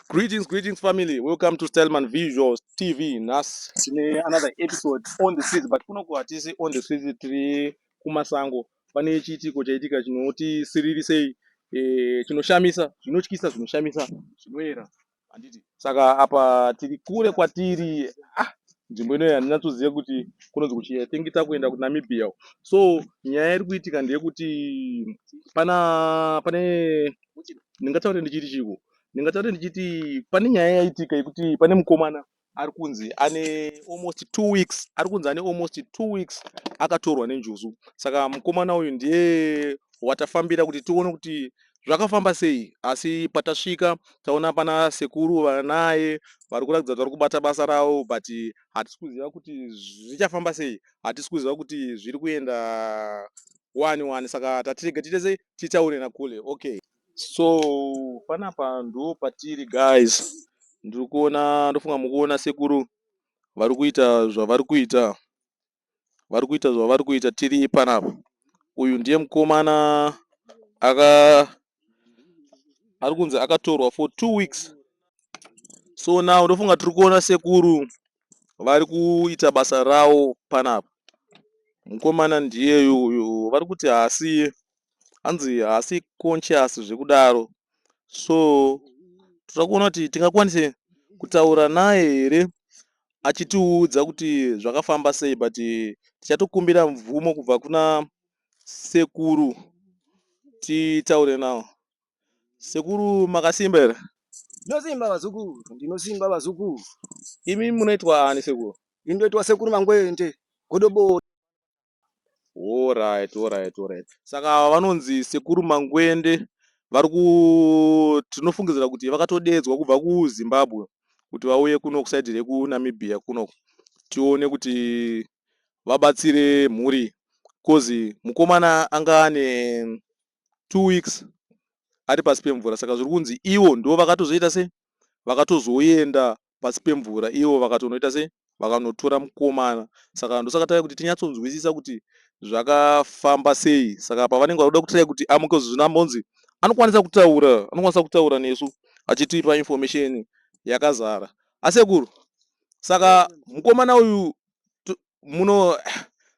Greetings, greetings family. Welcome to Stelman Visuals TV. Nas tine another episode on the streets but kuno kuhatisi on the streets tiri kumasango. Pane chiitiko chaitika chinoti siririsei eh, chinoshamisa, zvinotyisa, zvinoshamisa, zvinoera. Handiti. Saka apa tiri kure kwatiri ah, nzvimbo inoyi handinatsoziva kuti kunonzi kuchii. I think takuenda kuNamibia. So nyaya iri kuitika ndeyekuti pana pane ndingataure ndichiti chiiko ndingataure ndichiti pane nyaya yaitika yekuti pane mukomana ari kunzi ane almost two weeks ari kunzi ane almost two weeks akatorwa nenjuzu saka mukomana uyu ndiye watafambira kuti tione kuti zvakafamba sei asi patasvika taona pana sekuru vanaye vari kuratidza kuti vari kubata basa ravo but hatisi kuziva kuti zvichafamba sei hatisi kuziva kuti zviri kuenda wani wani saka tatirega tiite sei titaure nakule okay so panapa ndo patiri guys ndiri kuona ndofunga mukuona sekuru vari kuita zvavari kuita vari kuita zvavari kuita tiri panapa uyu ndiye mukomana aka ari kunzi akatorwa for two weeks so now ndofunga tiri kuona sekuru vari kuita basa rawo panapa. Mukomana ndiyeyu uyu vari kuti haasi hanzi haasi conscious zvekudaro so toda kuona kuti tingakwanise kutaura naye here achitiudza kuti zvakafamba sei but tichatokumbira mvumo kubva kuna sekuru titaure nawo Sekuru makasimba here? Ndinosimba vazukuru, ndinosimba vazukuru. Imi munoitwa ani sekuru? Ini ndoitwa sekuru Mangwende, Godobori. Alright, alright, alright. Saka vanonzi sekuru Mangwende vari ku tinofungidzira kuti vakatodeedzwa kubva kuZimbabwe kuti vauye kuno kusaidhi rekuNamibia kuno tione kuti vabatsire mhuri coz mukomana anga ane two weeks ari pasi pemvura saka zviri kunzi ivo ndivo vakatozoita sei vakatozoenda pasi pemvura ivo vakatonoita sei vakanotora mukomana saka ndosaka tave kuti tinyatsonzwisisa kuti zvakafamba sei saka pavanenge vakuda kutirai kuti amuke zvino ambonzi anokwanisa kutaura anokwanisa kutaura nesu achitipa information yakazara asekuru saka mukomana uyu muno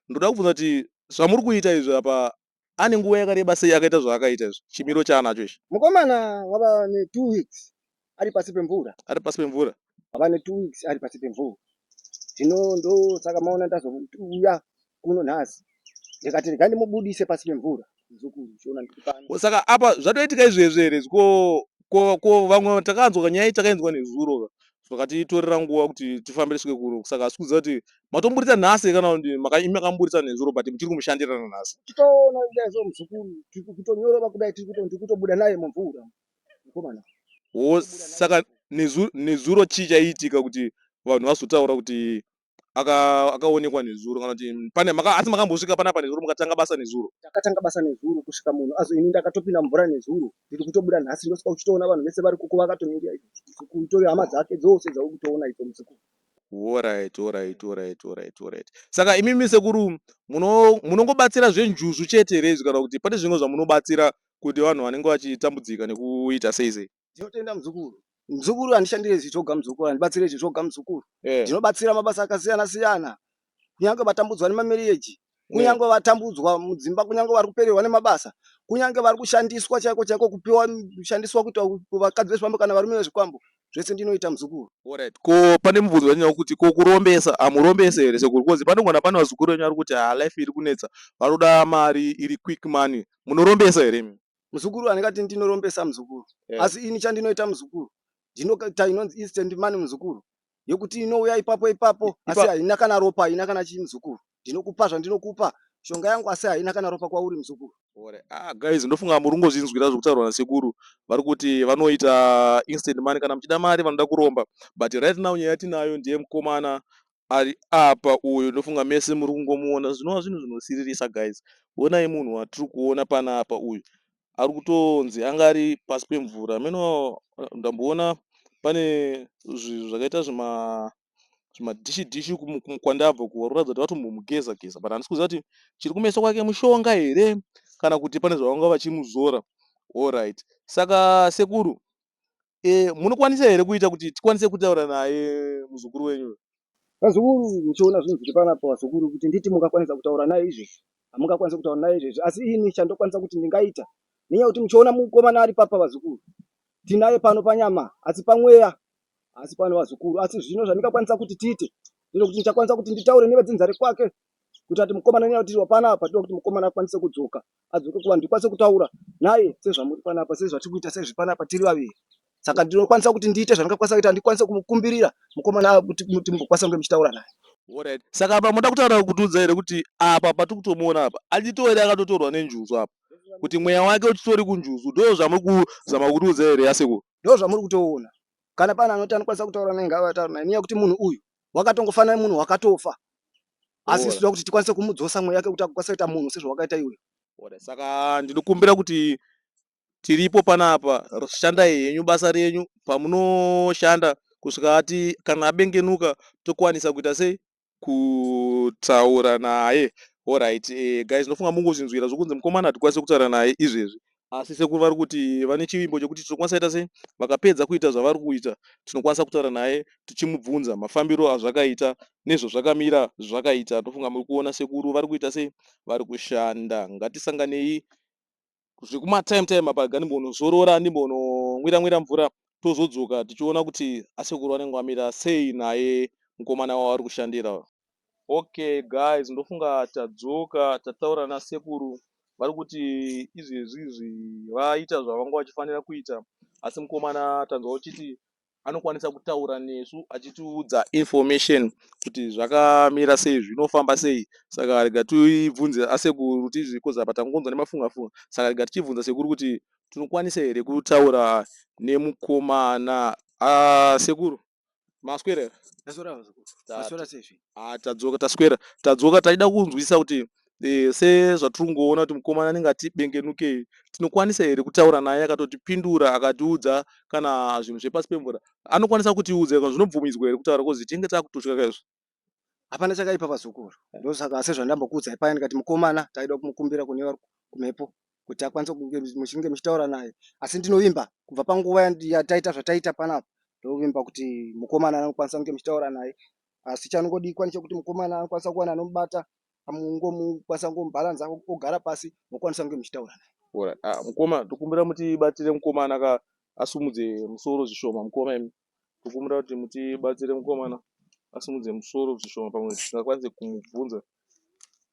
ndoda kubvunza kuti zvamuri kuita izvi apa Ane nguva yakareba sei akaita zvaakaita izvi? Chimiro chaanacho ichi. Mukomana wava ne 2 weeks ari pasi pemvura. Ari pasi pemvura. Wava ne 2 weeks ari pasi pemvura. Zvino ndosaka maona ndazouya kuno nhasi. Ndikati regai ndimubudise pasi pemvura. Muzukuru chiona ndikupana. Ko saka apa zvatoitika izvezvi here izvi ko ko ko vamwe takanzwa kanyaya iyi takainzwa nezuro ka zvakatitorera nguva kuti tifambe tisvike kuno saka asi kuziva kuti matomburitsa nhasi kana imi makamburitsa nezuro but muchiri kumushandirana nhasi titoona kudai so muzukuru tiri kutonyorova kudai tiri kutobuda naye mumvura mukomana wo saka nezuro chii chaiitika kuti vanhu vazotaura kuti akaonekwa aka nezuro kana kuti pane maka, asi makambosvika panapa nezuro mukatanga basa nezuro takatanga basa nezuro kusvika munhu azo ini ndakatopinda mvura nezuro ndiri kutobuda nhasi ndosvika uchitoona vanhu vese vari kuko vakatonyengeaikutoyo hama dzake dzose dzauri kutoona ipo muzukuru Horaiti horaiti horaiti horaiti horaiti saka imimi sekuru munongobatsira zvenjuzu chete here izvi kana kuti pane zvimwe zvamunobatsira kuti vanhu vanenge vachitambudzika nekuita sei sei ndinotenda muzukuru muzukuru handishandire izvi zvoga muzukuru handibatsire izvi zvoga muzukuru eh. ndinobatsira mabasa akasiyana siyana kunyange vatambudzwa nemameriyeji kunyange vatambudzwa mudzimba kunyange vari kupererwa nemabasa kunyange vari kushandiswa chaiko chaiko kupiwa kushandiswa kuita vakadzi vezvifambo kana varume vezvikwambo zvese ndinoita muzukuru Alright, ko pane mubvunzo wanyaya kuti ko kurombesa hamurombese here sekuru kozi panogona pane vazukuru venyu vari kuti ha life iri kunetsa vanoda mari iri quick money munorombesa here imi? Muzukuru handingati ndinorombesa muzukuru yeah. Asi ini chandinoita muzukuru ndinoita inonzi instant money muzukuru yekuti inouya ipapo ipapo asi haina kana ropa haina kana chii muzukuru ndinokupa zvandinokupa shonga yangu asi haina kana ropa kwauri muzukuru gore ah guys ndofunga muri kungozvinzwira zviri kutaurwa nasekuru vari kuti vanoita instant money kana muchida mari vanoda kuromba but right now nyaya yatinayo ndiye mukomana ari apa uyu ndofunga mese muri kungomuona zvinova zvinhu zvinosiririsa guys onai munhu watiri kuona panapa uyu ari kutonzi anga ari pasi pemvura hameno ndamboona pane zvinhu zvakaita zvima zvimadhishi dhishi kwandabva kuvaratidza kuti vatombomugeza geza but handisi kuziva kuti chiri kumeso kwake mushonga here kana kuti pane zvavanga vachimuzora allright saka sekuru Eh, munokwanisa here kuita kuti tikwanise kutaura naye muzukuru wenyu? Vazukuru, muchiona zvinhu zviri panapa vazukuru, kuti nditi mungakwanisa kutaura naye izvezvi, hamungakwanisa kutaura naye izvezvi, asi ini chandokwanisa kuti ndingaita, nenyaya kuti muchiona mukomana ari papa vazukuru, tinaye pano panyama, asi pamweya asi pano vazukuru, asi zvino zvandingakwanisa kuti tiite ndinokuti ndichakwanisa kuti nditaure nevedzinza rekwake kuita kuti mukomana nenyaya kuti hapana apa tinoda kuti mukomana akwanise kudzoka adzoke kuvanhu ndikwanise kutaura naye sezvamuri panapa sezvatiri kuita sezvi panapa tiri vaviri saka ndinokwanisa kuti ndiite zvandingakwanisa kuita ndikwanise kumukumbirira mukomana kuti mumbokwanisa kunge muchitaura naye Alright. Saka apa moda kutaura kutiudza here kuti apa patiri kutomuona apa achitori akatotorwa nenjuzu apa kuti mweya wake uchitori kunjuzu ndoo zvamuri kuzama kutiudza here asekuru ndoo zvamuri kutoona kana pane anoti anokwanisa kutaura naye ngavataura naye nenyaya yekuti munhu uyu wakatongofanana nemunhu wakatofa asi isu toda kuti tikwanise kumudzosa mweya yake kuti akwanisa kuita munhu sezvawakaita iwe saka ndinokumbira kuti tiripo panapa shandai henyu basa renyu pamunoshanda kusvika ati kana abengenuka tokwanisa kuita sei kutaura naye horit e, eh, guys ndofunga mungozvinzwira zvokunzi mukomana hatikwanise kutaura naye izvezvi asi sekuru vari kuti vane chivimbo chekuti tinokwanisa ita sei vakapedza kuita zvavari kuita tinokwanisa kutaura naye tichimubvunza mafambiro azvakaita nezvazvakamira zvakaita ndofunga muri kuona sekuru vari kuita sei vari kushanda ngatisanganei zvekuma time time apa gandimbonozorora ndimbononwira nwira mvura tozodzoka tichiona kuti asekuru vanenge vamira sei naye mukomana wavo ari kushandira okay guys ndofunga tadzoka tataura nasekuru vari kuti izvezvi izvi vaita zvavanga vachifanira kuita asi mukomana tanzwa uchiti anokwanisa kutaura nesu achitiudza information kuti zvakamira sei zvinofamba sei saka rega tibvunze asekuru tizvi kozi apa tangonzwa nemafunga funga saka rega tichibvunza sekuru kuti tinokwanisa here kutaura nemukomana asekuru maswerera tadzoka taswera tadzoka taida kunzwisisa kuti Eh, sezvatiri kungoona kuti mukomana anenge atibengenukei tinokwanisa here kutaura naye akatotipindura akatiudza kana zvinhu zvepasi pemvura anokwanisa kutiudza ika zvinobvumidzwa here kutaura kozi tinenge takutotya kaizvo hapana chakaipa vazukuru ndosaka asi zvandambokuudzai paya ndikati mukomana taida kumukumbira kune vari kumhepo kuti akwanise kunge muchinge muchitaura naye asi ndinovimba kubva panguva yandi- yataita zvataita panapa ndovimba kuti mukomana anokwanisa kunge muchitaura naye asi chanongodikwa nechekuti mukomana anokwanisa kuwana anomubata mokwanisa kungomubhalanza ogara pasi mokwanisa kunge muchitaura naye. Alright. Ah, mukoma tokumbira mutibatsire mukomana ka asumudze musoro zvishoma mukoma imi. Tokumbira kuti mutibatsire mukomana asumudze musoro zvishoma pamwe tisingakwanise kumubvunza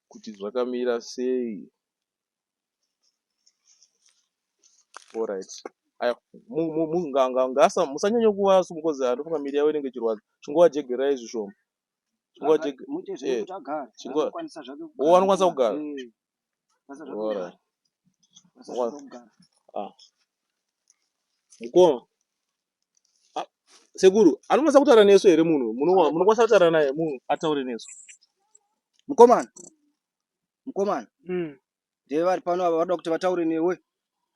kuti zvakamira sei. Alright. Aya, mu- mu- mu- nga- nga- ngaasa- musanyanye kuva sumukozi anofunga miri yavo inenge ichirwadza chingovajegerai zvishoma wanokwanisa kugara ah. mukoma ah, sekuru anokwanisa kutaura nesu here munhu munokwanisa kutaura naye munhu ataure nesu mukomana mukomana hmm. ndee vari pano ava vanoda kuti vataure newe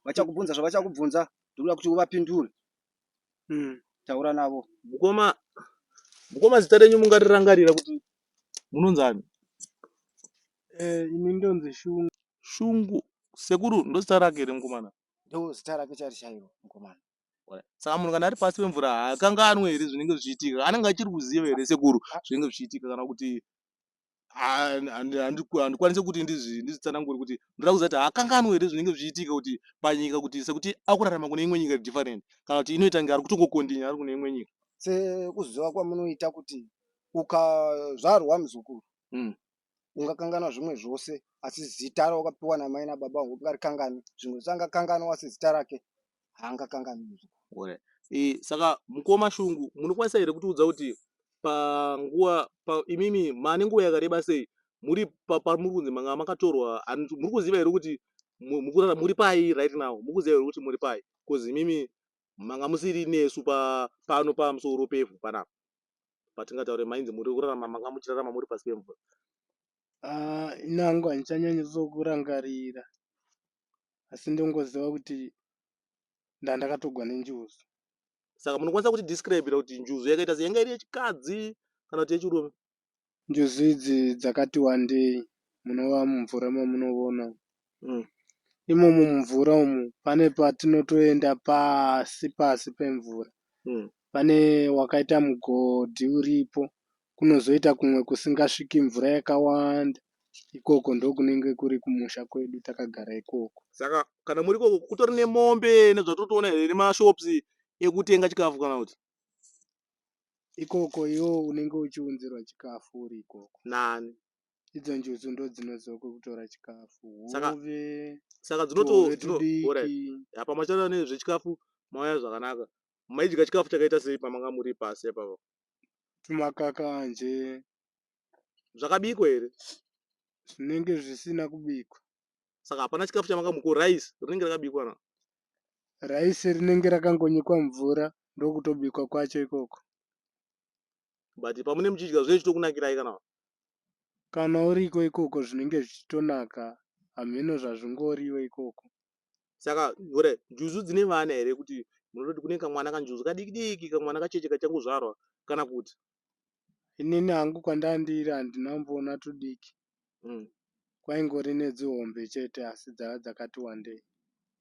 vachakubvunza zvavachakubvunza ndinoda kuti uvapindure mm. taura navo mukoma mukoma zita renyu mungarirangarira kuti munonzi ani eh, ini ndonzi shungu shungu sekuru ndozita rake here mukomana ndo zita rake chari chairo mukomana saka munhu kana ari pasi pemvura haakanganwe here zvinenge zvichiitika anenge achiri kuziva here sekuru zvinenge zvichiitika kana kuti handikwanise kuti ndizvitsanangure kuti ndoda kuziva kuti haakanganwe here zvinenge zvichiitika kuti panyika kuti sekuti akurarama kune imwe nyika different kana kuti inoita nge ari kutongokondinya ari kune imwe nyika sekuziva kwamunoita kuti ukazvarwa muzukuru hmm. ungakanganwa zvimwe zvose asi zita rawakapiwa namai nababa ungarikangani zvimwe zvisangakanganwa asi zita rake haanga kanganwi izvo e, saka mukoma shungu munokwanisa here kutiudza kuti panguva pa, imimi maane nguva yakareba sei muri pamuri kunzi manga makatorwa muri kuziva here kuti mukurara muri pai right now muri kuziva here kuti muri pai bcause imimi manga musiri nesu pa, pano pamusoro pevhu panapa patingataure mainzi muri kurarama manga muchirarama muri pasi pemvura ah, inangu handichanyanyatsokurangarira asi ndongoziva kuti ndandakatogwa nenjuzu. Saka munokwanisa kuti describira kuti njuzu yakaita se yanga iri yechikadzi kana kuti yechirume? Njuzu idzi dzakati wandei munova mumvura mamunovona mm. imomo mumvura umu pane patinotoenda pasi pasi pemvura mm. pane wakaita mugodhi uripo kunozoita kumwe kusingasviki mvura yakawanda ikoko ndokunenge kuri kumusha kwedu takagara ikoko saka kana muri ikoko kutori nemombe nezvatotoona here nemashops ekutenga chikafu kana kuti ikoko iwo unenge uchiunzirwa chikafu uri ikoko nani idzo njuzu ndo dzinozoko kutora chikafu hove saka dzinotoapamachata nezvechikafu mauya zvakanaka maidya chikafu chakaita sei pamanga muri pasi ipapa tumakakanje zvakabikwa here zvinenge zvisina kubikwa saka hapana chikafu chamakamuko rice rinenge rakabikwa na rice rinenge rakangonyikwa mvura ndokutobikwa kwacho ikoko but pamune muchidya zvinenge zvichitokunakirai kana kana uriko ikoko zvinenge zvichitonaka hameno zvazvingoriwe ikoko saka ora njuzu dzine vana here kuti munototi kune kamwana kanjuzu kadiki diki kamwana kacheche kachangozvarwa kana kuti inini hangu kwandandiri handina mboona tudiki mm. kwaingori nedzihombe chete asi dzava dzakati wandei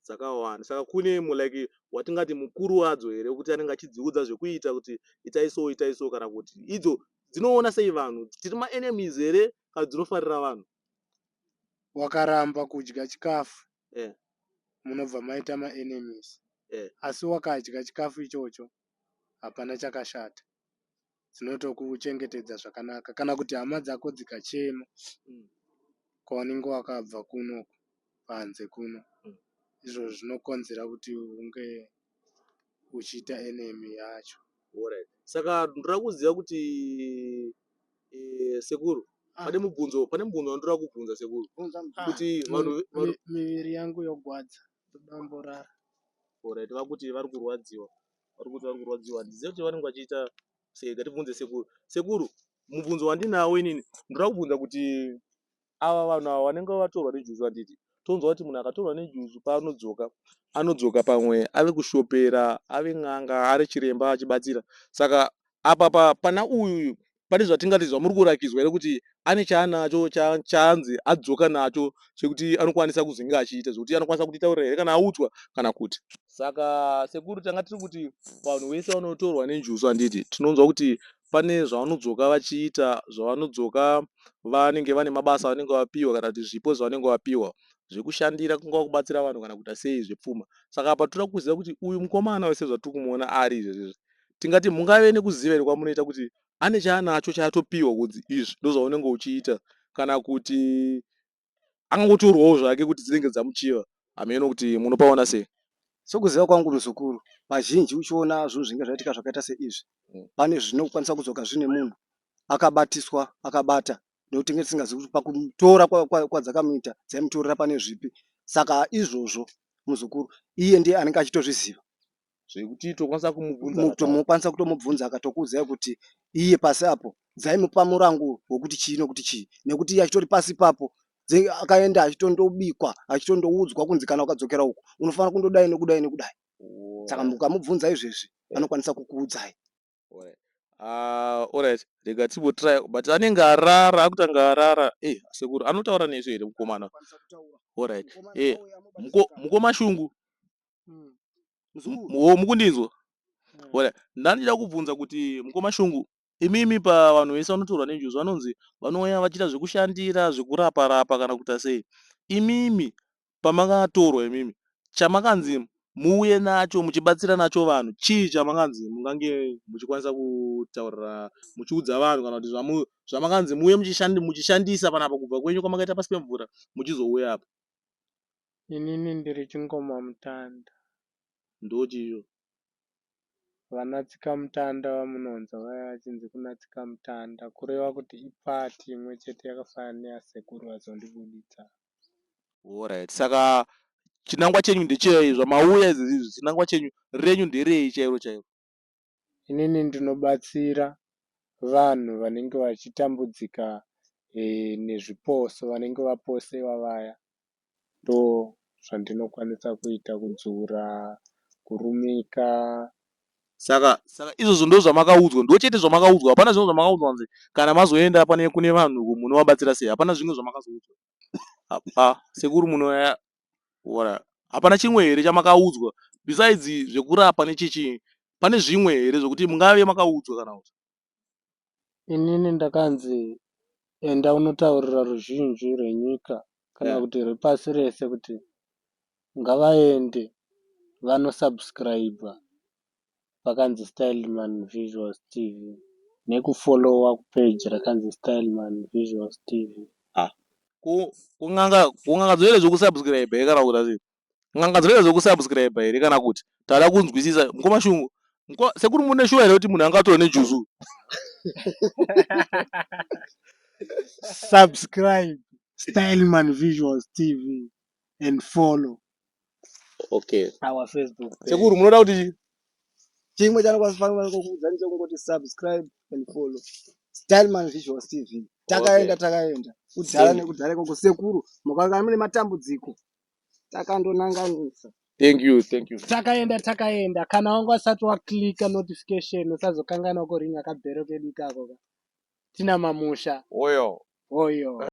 dzakawanda saka kune mulike watingati mukuru wadzo here kuti anenge achidziudza zvekuita kuti itai so itai so kana kuti idzo dzinoona sei vanhu tiri maenemies here kana dzinofarira vanhu wakaramba kudya chikafu eh. munobva maita maenemies eh. asi wakadya chikafu ichocho hapana chakashata dzinotokuchengetedza zvakanaka kana kuti hama dzako dzikachema mm. kwaunenge wakabva kuno panze kuno mm. izvozvo zvinokonzera kuti unge uchiita enemy yacho. Alright. Saka ndoda kuziva kuti eh, sekuru Ah. pane mubvunzo pane mubvunzo wandoda kubvunza sekuru Bvunza mubvunzo. kuti Ah, vanhu mi- vanhu mi- miviri yangu yogwadza ndodamborara alright vakuti vari kurwadziwa vari kuti vari kurwadziwa handizive kuti vanenge vachiita sei ngatibvunze sekuru sekuru mubvunzo wandinawo inini ndoda kubvunza kuti ava vanhu ava vanenge vatorwa nejuzu handiti tonzwa kuti munhu akatorwa nejuzu paanodzoka anodzoka pamwe ave kushopera ave n'anga ari chiremba achibatsira saka apa pa, pana uyu uyu pane zvatingati zvamuri kurakidzwa here kuti ane chaanacho chaanzi adzoka nacho chekuti anokwanisa kuzenge achiita zvekuti anokwanisa kutitaurira here kana audzwa kana kuti saka sekuru tanga tiri kuti vanhu vese vanotorwa nenjuzu handiti tinonzwa kuti pane zvavanodzoka vachiita zvavanodzoka vanenge vane mabasa avanenge vapihwa kana kuti zvipo zvavanenge vapihwa zvekushandira kungava kubatsira vanhu kana kuita sei zvepfuma saka apa tinoda kuziva kuti uyu mukomana wese zvatiri kumuona ari izvezvezvi tingati mungave nekuziva here kwamunoita kuti ane chaanacho chaatopihwa kunzi izvi ndozvaunenge uchiita kana kuti angangotorwawo zvake kuti dzinenge dzamuchiva hameno kuti munopaona sei sokuziva kwangu muzukuru vazhinji uchiona zvinhu zvinge zvaitika zvakaita seizvi mm. pane zvinokwanisa kuzoka zvine munhu akabatiswa akabata nekuti tinge tisingazivi kuti pakutora kwadzakamuita dzaimutorera pane zvipi saka izvozvo muzukuru iye ndiye anenge achitozviziva zvekuti tokwanisa kumubvunza mutomukwanisa kutomubvunza akatokuudzai kuti iye pasi apo dzaimupa murango wekuti chii nokuti chii nekuti iye achitori pasi ipapo akaenda achitondobikwa achitondoudzwa kunzi kana ukadzokera uku unofanira kundodai nokudai nokudai saka mukamubvunza izvezvi anokwanisa kukuudzai orit ah, rega timbotry but anenge arara akutanga arara e eh, sekuru anotaura nesu here mukomana orit e eh, mukoma shungu wo mukundinzwa ora ndandichida kubvunza kuti mukoma shungu imimi pavanhu vese vanotorwa nenjuzu vanonzi vanouya vachiita zvekushandira zvekurapa rapa kana kuita sei imimi pamakatorwa imimi chamakanzi muuye nacho muchibatsira nacho vanhu chii chamakanzi mungange muchikwanisa kutaurira muchiudza vanhu kana kuti zvamakanzi muuye muchishandisa panapa kubva kwenyu kwamakaita pasi pemvura muchizouya apa Inini ndiri chingoma mutanda. Ndochi iyo. Vana tsikamutanda vamunonzwa vaya vachinzi kuna tsikamutanda kureva kuti ipart imwe chete yakafanana neyasekuru vazondibuditsa. Horaiti saka chinangwa chenyu ndechei zvamauya izvezvi izvi chinangwa chenyu renyu nderei chairo chairo. inini ndinobatsira vanhu vanenge vachitambudzika nezviposo vanenge vaposewa vaya ndozvandinokwanisa kuita kudzura kurumika saka saka izvozvo ndozvamakaudzwa ndochete zvamakaudzwa hapana zvimwe zvamakaudzwa nzi kana mazoenda pane kune vanhu munovabatsira sei hapana zvimwe zvamakazoudzwa apa sekuru munoya Wala. Hapana chimwe here chamakaudzwa besides zvekurapa nechechi pane zvimwe here zvekuti mungave makaudzwa kana kuti inini ndakanzi enda unotaurira ruzhinji rwenyika kana Yeah. kuti rwepasi rese kuti ngavaende vanosubscriber pakanzi Styleman Visuals TV neku follower ku page rakanzi Styleman Visuals TV. Haa ko ko n'anga ko n'anga dzinoita zveku subscriber here kana kuita sei n'anga dzinoita zveku subscriber here kana kuti tada kunzwisisa mukoma shungu mko sekuru mune shuwa here kuti munhu anga atove ne juice uyu Subscribe Styleman Visuals TV and follow okay our facebook page. sekuru munoda kuti chii chimwe chanokwazifanira kukuudzani chekungoti subscribe and follow styleman visuals tv takaenda Okay. takaenda kudhara Same. nekudhara ikoko sekuru mukaonekana mune matambudziko takandonanganisa thank you thank you takaenda takaenda kana wanga usati waclika notification usazokanganwa kuringa kabhero kedu ikako ka tina mamusha oyo hoyo